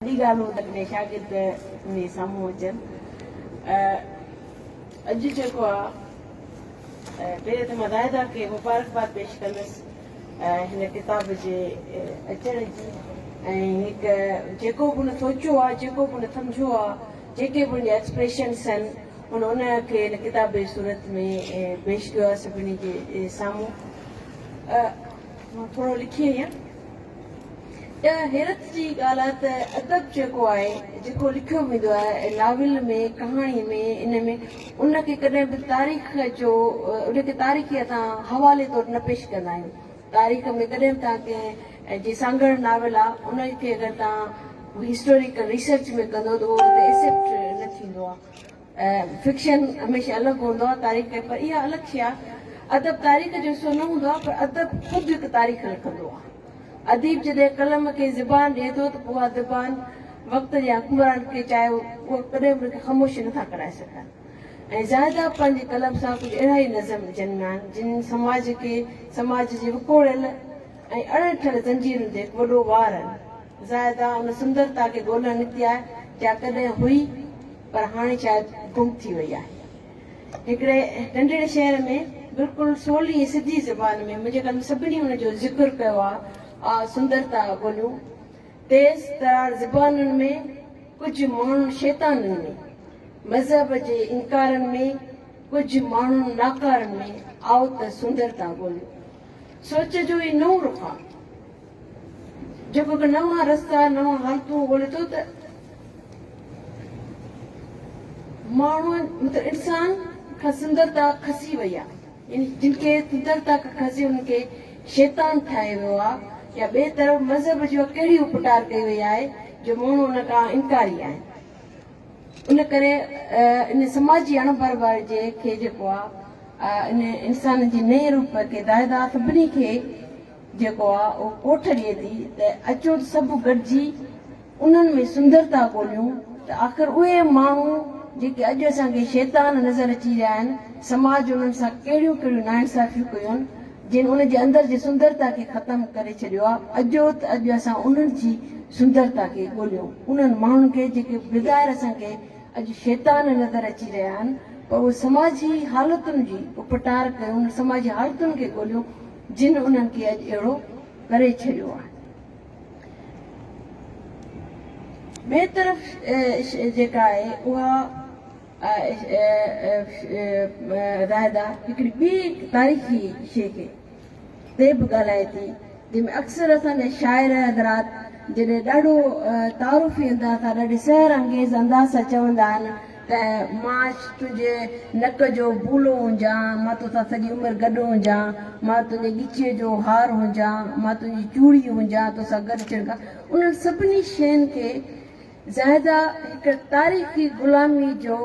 وڏي ڳالهه هو ته ڪڏهن شاگرد ۾ سامهون اچن. اڄ جيڪو آ پهرين ته مان زاهده کي مبارڪباد پيش ڪندس هن ڪتاب جي اچڻ جي ۽ هڪ جيڪو به هن سوچيو آ جيڪو به هن سمجهيو آ جيڪي به هن جا ايڪسپريشنس آهن هن ان کي هن ڪتاب جي صورت ۾ پيش ڪيو آ سڀني جي سامهون مان ٿورو لکي آئي آهيان. اها حيرت جي ڳالهه آهي ته ادب جيڪو آهي، جيڪو لکيو ويندو آهي، ناول ۾، ڪهاڻي ۾، ان ۾ ان کي ڪڏهن به تاريخ جو ان کي تاريخي اسان حوالي طور نه پيش ڪندا آهيون. تاريخ ۾ ڪڏهن به توهان ڪنهن جي سانگهڙ ناول آ، ان کي اگر توهان هسٽوريڪل ريسرچ ۾ ڪندو ته اهو اتي ايسيپٽ نه ٿيندو آ. فڪشن هميشه الڳ هوندو آهي تاريخ کان پر اها الڳ شيء آهي ادب تاريخ جو حصو نه هوندو آهي پر ادب خود هڪ تاريخ لکندو آهي اديب جڏهن قلم کي زبان ڏئي ٿو ته پوء اها زبان وقت جي حڪمران کي چاهي اهو ڪڏهن به ان کي خاموش نه ٿا ڪرائي سگهن ۽ زاهده پنهنجي قلم سان ڪجهه اهڙا ئي نظم جنم آهن جن سماج کي سماج جي وڪوڙيل ۽ اڙهڻ ٺهيل زنجيرن تي هڪ وڏو وار آهن زاهده ان سندرتا کي ڳولڻ نڪتي آهي جا ڪڏهن هئي پر هاڻي شايد گم ٿي وئي آهي. هڪڙي ننڍڙي شعر ۾ بلڪل سولي ۽ سڌي زبان ۾ منهنجي قلم سڀني ان جو ذڪر ڪيو آ، آ سندرتا ٻوليون، تيز ترار زبانن ۾، ڪجهه ماڻهن شيطانن ۾، مذهب جي انڪارن ۾، ڪجهه ماڻهن ناڪارن ۾، آء ته سندرتا ٻوليون. سوچ جو ئي نئون رخ آ. جيڪو ڪو نوان رستا، نوان حالتون ڳولي ٿو ته ماڻهن مطلب انسان کان سندرتا کسي وئي آهي يعني جن کي سندرتا کان کسي انهن کي شيطان ٺاهيو ويو آهي يا ٻئي طرف مذهب جي اها ڪهڙي اپٽار ڪئي وئي آهي جو ماڻهو ان کان انڪاري آهن ان ڪري ان سماجي اڻ برابري جي کي جيڪو آهي ان انسان جي نئين روپ کي دائدا سڀني کي جيڪو آ او ڪوٺ ڏئي ٿي ته اچو ته سڀ گڏجي انهن ۾ سندرتا ڳوليون ته آخر اهي ماڻهو جيڪي اڄ اسان کي شيطان نظر اچي رهيا آهن سماج انهن سان ڪهڙيون ڪهڙيون ناانصافيون ڪيون جن ان جي اندر جي سندرتا کي ختم ڪري ڇڏيو آ اجو ته اڄ اسان انهن جي سندرتا کي ڳوليون انهن ماڻهن کي جيڪي بظاهر اسان کي اڄ شيطان نظر اچي رهيا آهن پر اهي سماجي حالتن جي اپٽار ڪيون سماجي حالتن کي ڳوليون جن انهن کي اڄ اهڙو ڪري ڇڏيو آهي. ٻئي طرف جيڪا آهي اها زاهده هڪڙي ٻي تاريخي شيء کي تي به ڳالهائي ٿي جنهن ۾ اڪثر اسان جا شاعر حضرات جڏهن ڏاڍو تعارفي انداز سان ڏاڍي سحر انگيز انداز سان چوندا آهن ته مان تنهنجي نڪ جو بولو هجان، مان توسان سڄي عمر گڏ هجان، مان تنهنجي ڳچيء جو هار هجان، مان تنهنجي چوڙي هجان، توسان گڏ ڇڻڪان. انهن سڀني شين کي زاهده هڪ تاريخي غلاميء جو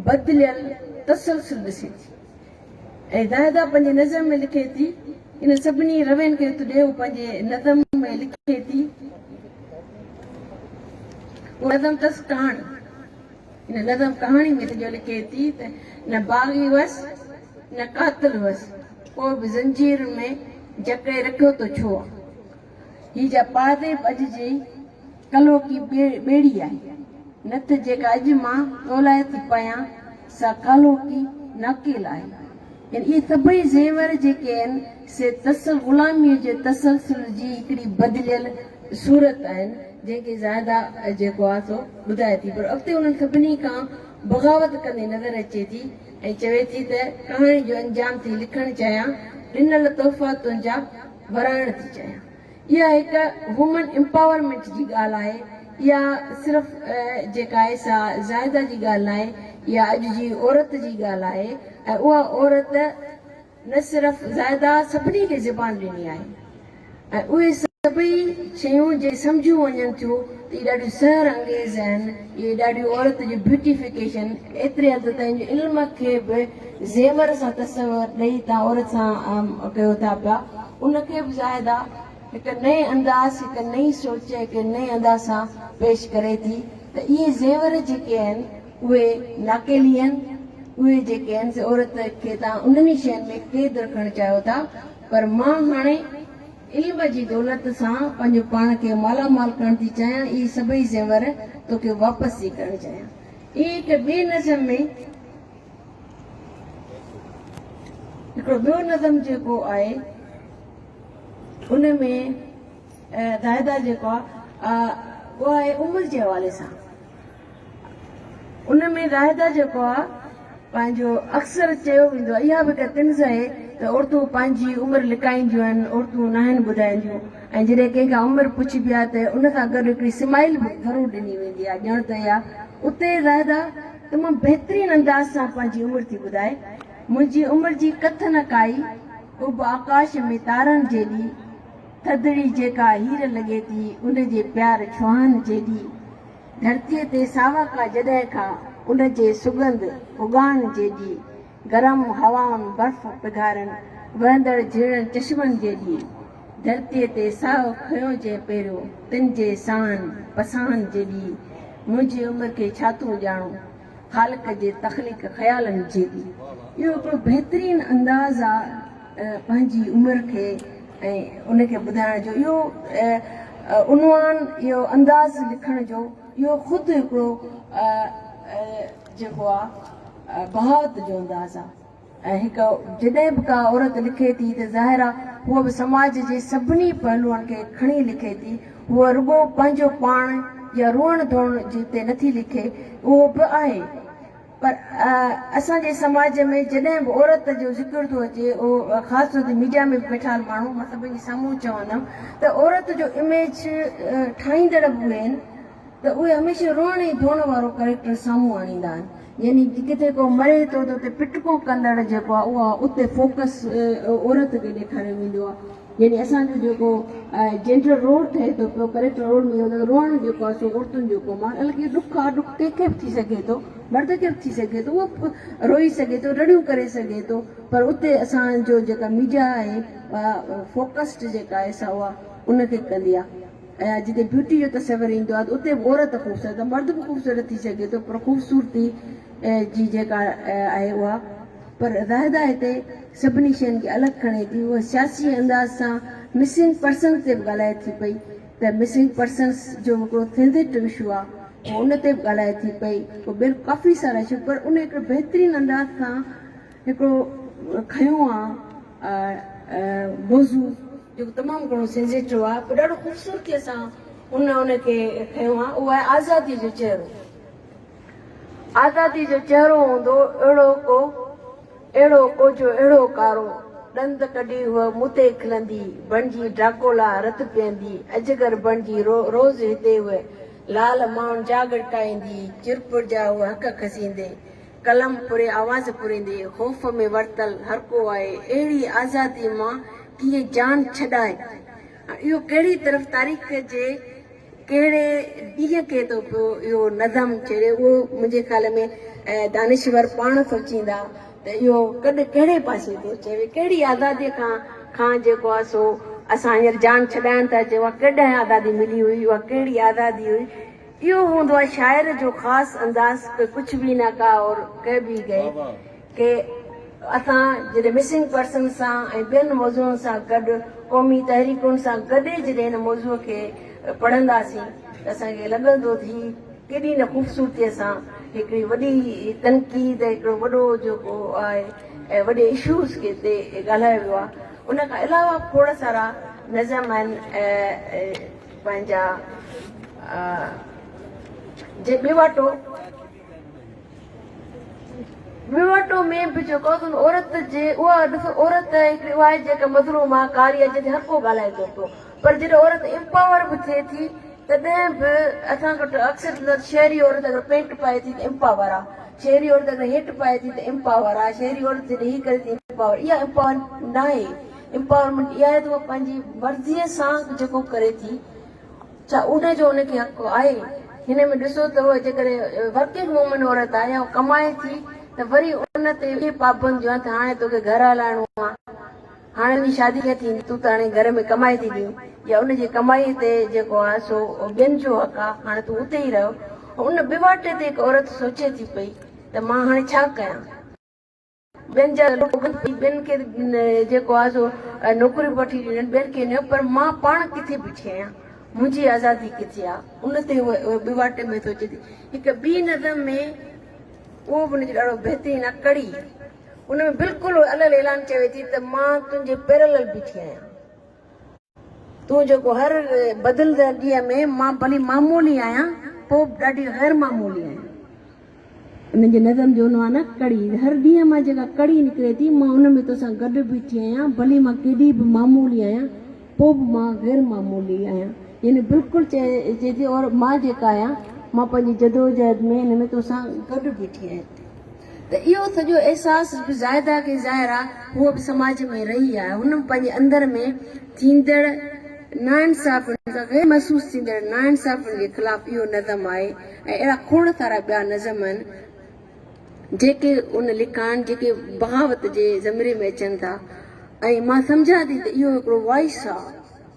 بدليل تسلسل ڏسي ٿي. ۽ داهدا پنهنجي نظم ۾ لکي ٿي، انهن سڀني روين کي هٿ ڏي، هو پنهنجي نظم ۾ لکي ٿي، اهو نظم اٿس ڪهاڻي، ان نظم ڪهاڻي ۾ سڄو لکي ٿي ته نه باغي هئس، نه قاتل هئس، پوء به زنجيرن ۾ جڪڙي رکيو ته ڇو آ؟ هي جا پاهديب اڄ جي ڪلهوڪي ٻيڙي آهي، نه ته جيڪا اڄ مان تو لاء ٿي پايان، سا ڪالهوڪي ناڪيل آهي. يعني اهي سڀئي زيور جيڪي آهن، سي تسل غلاميء جي تسلسل جي هڪڙي بدليل صورت آهن، جنهن کي زاهده جيڪو آهي سو ٻڌائي ٿي، پر اڳتي انهن سڀني کان بغاوت ڪندي نظر اچي ٿي ۽ چوي ٿي ته ڪهاڻي جو انجام ٿي لکڻ چاهيان، ڏنل تحفا تنهنجا ورهائڻ ٿي چاهيان. اها هڪ وومن امپاورمينٽ جي ڳالهه آهي. اها صرف جيڪا آهي سا زاهده جي ڳالهه ناهي. اها اڄ جي عورت جي ڳالهه آهي ۽ اها عورت نه صرف زاهده سڀني کي زبان ڏني آهي ۽ اهي سڀئي شيون جي سمجهيون وڃن ٿيون. اهي ڏاڍيون سحر انگيز آهن، اهي ڏاڍيون عورت جون بيوٽيفڪيشن ايتري حد تائين جو علم کي به زيور سان تصور ڏئي تان عورت سان ڪيو ٿا پيا، ان کي به زاهده هڪ نئين انداز، هڪ نئين سوچ، هڪ نئين ادا سان پيش ڪري ٿي ته اهي زيور جيڪي آهن اهي ناڪيلي آهن، اهي جيڪي آهن سي عورت کي تان انهن ئي شين ۾ قيد رکڻ چاهيو ٿا پر مان هاڻي. علم جي دولت سان پنهنجو پاڻ کي مالا مال ڪرڻ ٿي چاهيان، اهي سڀئي زيور توکي واپس ٿي ڪرڻ چاهيان. اهي هڪ ٻئي نظم ۾ هڪڙو ٻيو نظم جيڪو آهي ان ۾ زاهده جيڪو آهي اهو آهي عمر جي حوالي سان. ان ۾ لاهيده جيڪو آ پنهنجو اڪثر چيو ويندو آ اها به هڪ طنز اهي ته عورتون پنهنجي عمر لڪائينديون آهن عورتون ناهن ٻڌائينديون ۽ جڏهن ڪنهن کان عمر پڇبي آ ته ان سان گڏ هڪڙي سمائيل به ضرور ڏني ويندي آ ڄڻ ته اها اتي لاهيده تمام بهترين انداز سان پنهنجي عمر ٿي ٻڌائي منهنجي عمر جي ڪٿ نه ڪائي اڀ آڪاش ۾ تارن جيڏي ٿڌڙي جيڪا هير لڳي ٿي ان جي پيار ڇوهن جيڏي ڌرتيء تي ساوڪا جڏهن کان ان جي سڳنڌ اڳاڻ جيڏي، گرم هوائن، برف پگهارن، وهندڙ جهيڙن چشمن جيڏي، ڌرتيء تي ساهه کنيو جنهن پهريون، تن جي ساهن پساهن جيڏي، منهنجي عمر کي ڇا ٿو ڄاڻو؟ خالق جي تخليق خيالن جي به اهو هڪڙو بهترين انداز آ پنهنجي عمر کي ۽ ان کي ٻڌائڻ جو اهو عنوان اهو انداز لکڻ جو اهو خود هڪڙو جيڪو آ بهاوت جو انداز آ. ۽ هڪ جڏهن به ڪا عورت لکي ٿي ته ظاهر آ هوء به سماج جي سڀني پهلوئن کي کڻي لکي ٿي، هوء رڳو پنهنجو پاڻ يا روئڻ ڌوئڻ جي تي نٿي لکي، اهو به آهي پر اسان جي سماج ۾ جڏهن به عورت جو ذڪر ٿو اچي اهو خاص طور تي ميڊيا ۾ به ويٺال ماڻهو مان سڀني جي سامهون چوندم ته عورت جو اميج ٺاهيندڙ به اهي آهن. ته اهي هميشه روئڻ ۽ ڌوئڻ وارو ڪريڪٽر سامهون آڻيندا آهن يعني ڪٿي ڪو مري ٿو ته اتي پٽڪو ڪندڙ جيڪو آهي اها اتي فوڪس عورت کي ڏيکاريو ويندو آهي يعني اسان جو جيڪو جينڊر رول ٺهي ٿو پيو ڪريڪٽر رول ۾ اهو روئڻ جيڪو آهي سو عورتن جو ڪم آهي الڪي ڏک آهي ڏک ڪنهن کي به ٿي سگهي ٿو مرد کي به ٿي سگهي ٿو اهو به روئي سگهي ٿو رڙيون ڪري سگهي ٿو پر اتي اسان جو جيڪا ميڊيا آهي اها فوڪسڊ جيڪا آهي سا اها ان کي ڪندي آهي ۽ اڄ جتي بيوٽي جو تصور ايندو آهي ته اتي به عورت خوبصورت ته مرد به خوبصورت ٿي سگهي ٿو پر خوبصورتي جي جيڪا آهي اها پر زاهده هتي سڀني شين کي الڳ کڻي ٿي هوء سياسي انداز سان مسنگ پرسنز تي به ڳالهائي ٿي پئي ته مسنگ پرسنز جو هڪڙو سينزيٽو اشو آهي هوء ان تي به ڳالهائي ٿي پئي هوء ڪافي سارا اشو پر ان هڪڙو بهترين انداز سان هڪڙو کنيو آهي موضوع جيڪو تمام گهڻو سينزيٽو آهي پوء ڏاڍو خوبصورتيء سان ان ان کي کنيو آهي اهو آهي آزاديء جو چهرو. آزاديء جو چهرو هوندو اهڙو ڪو اهڙو ڪو جو اهڙو ڪارو ڏند ڪڍي هوء مون تي کلندي بڻجي ڊراڪولا رت پيئندي اجگر بڻجي رو روز هتي هوء لال ماڻهن جا ڳڙڪائيندي چرپر جا هوء هڪ کسيندي قلم پري آواز پريندي خوف ۾ ورتل هرڪو آء اهڙي آزادي مان ڪيئن جان ڇڏائي ۽ اهو ڪهڙي طرف تاريخ جي ڪهڙي ڏينهن کي ٿو پيو اهو نظم ڇيڙي اهو منهنجي خيال ۾ دانشور پاڻ سوچيندا ته اهو ڪڏ ڪهڙي پاسي ٿو چئي وئي ڪهڙي آزادي کان کان جيڪو آ سو اسان هينئر جان ڇڏائڻ ٿا چئون اها ڪڏهن آزادي ملي هئي اها ڪهڙي آزادي هئي. اهو هوندو آهي شاعر جو خاص انداز ڪه ڪڇ ڀي نه ڪا اور ڪه ڀي گئي ڪه اسان جڏهن مسنگ پرسنز سان ۽ ٻين موضوعن سان گڏ قومي تحريڪن سان گڏي جڏهن هن موضوع کي پڙهنداسين ته اسان کي لڳندو ته هي ڪيڏي نه خوبصورتيء سان هڪڙي وڏي تنقيد هڪڙو وڏو جيڪو آهي ۽ وڏي اشوز کي تي ڳالهايو ويو آهي ان کان علاوه کوڙ سارا نظم آهن پنهنجا جي ٻيواٽو ٻيواٽو ۾ به جيڪو آهي سو عورت جي اها ڏسو عورت هڪڙي اها آهي جيڪا مظلوم آهي ڪاري آهي جنهن تي هر ڪو ڳالهائي ٿو پيو پر جڏهن عورت امپاور به ٿئي ٿي تڏهن به اسان وٽ اڪثر شهري عورت اگر پينٽ پائي ٿي ته امپاور آهي شهري عورت اگر هيٺ پائي ٿي ته امپاور آهي شهري عورت جڏهن هي ڪري ٿي امپاور اها امپاور ناهي Empowerment اها آهي ته هوء پنهنجي مرضيء سان جيڪو ڪري ٿي ڇا ان جو ان کي حق آهي؟ هن ۾ ڏسو ته هوء جيڪڏهن Working Woman عورت آهي يا هوء ڪمائي ٿي ته وري ان تي اهي پابنديون آهن ته هاڻي توکي گهر هلائڻو آهي، هاڻي تنهنجي شادي ڪيئن ٿيندي، تون ته هاڻي گهر ۾ ڪمائي ٿي ڏين يا ان جي ڪمائي تي جيڪو آهي سو ٻين جو حق آهي هاڻي تون اتي ئي رهه. ان ٻه واٽي تي هڪ عورت سوچي ٿي پئي ته مان هاڻي ڇا ڪيان؟ ٻين جا لوڪ ڀڄي ٻين کي جيڪو آهي سو نوڪريون وٺي ڏيندا آهن، ٻين کي نه پر مان پاڻ ڪٿي بيٺي آهيان، منهنجي آزادي ڪٿي آهي؟ ان تي هوء ٻوهاٽي ۾ سوچي ٿي. هڪ ٻي نظم ۾ اهو به ان جو ڏاڍو بهترين آهي ڪڙي، ان ۾ بلڪل هوء الهل اعلان ڪيو ٿي ته مان تنهنجي پيرلل بيٺي آهيان. تون جيڪو هر بدلندڙ ڏينهن ۾ مان ڀلي معمولي آهيان پوء به ڏاڍي غير معمولي آهيان. انهن جي نظم جو عنوان آهي ڪڙي. هر ڏينهن مان جيڪا ڪڙي نڪري ٿي مان ان ۾ توسان گڏ بيٺي آهيان ڀلي مان ڪيڏي به معمولي آهيان پوء به مان غير معمولي آهيان يعني بلڪل چئجي ٿي اور مان جيڪا آهيان مان پنهنجي جدوجهد ۾ ان ۾ توسان گڏ بيٺي آهيان. ته اهو سڄو احساس جيڪو زاهده کي ظاهر آ هوء به سماج ۾ رهي آ هن پنهنجي اندر ۾ ٿيندڙ ناانصافين کان غير محسوس ٿيندڙ ناانصافين جي خلاف اهو نظم آهي ۽ اهڙا کوڙ سارا ٻيا نظم آهن جيڪي ان لکان جيڪي بغاوت جي زمري ۾ اچن ٿا ۽ مان سمجهان ٿي ته اهو هڪڙو وائس آ.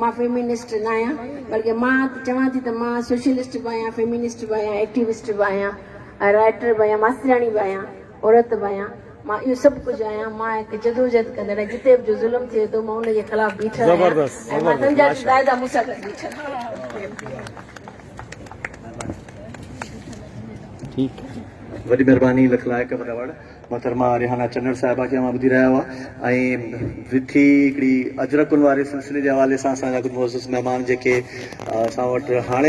مان فيمنسٽ نه آهيان بلڪه مان چوان ٿي ته مان سوشلسٽ به آهيان، فيمنسٽ به آهيان، ايڪٽيوسٽ به آهيان، رائٽر به آهيان، ماسترياڻي به آهيان، عورت به آهيان، مان اهو سڀ ڪجهه آهيان، مان هڪ جدوجهد ڪندڙ آهيان، جتي به جو ظلم ٿئي ٿو مان ان جي خلاف بيٺل آهيان ۽ مان سمجهان ٿي زاهده مون سان گڏ بيٺل آهي. وڏي مھرباني لک لائق وڏا وڙ. محترمه ريحانه چنڙ صاحبه کي اوهان ٻڌي رهيا هئا ۽ وٿي هڪڙي اجرڪن واري سلسلي جي حوالي سان اسان جا ڪجهه معزز مهمان جيڪي اسان وٽ هاڻي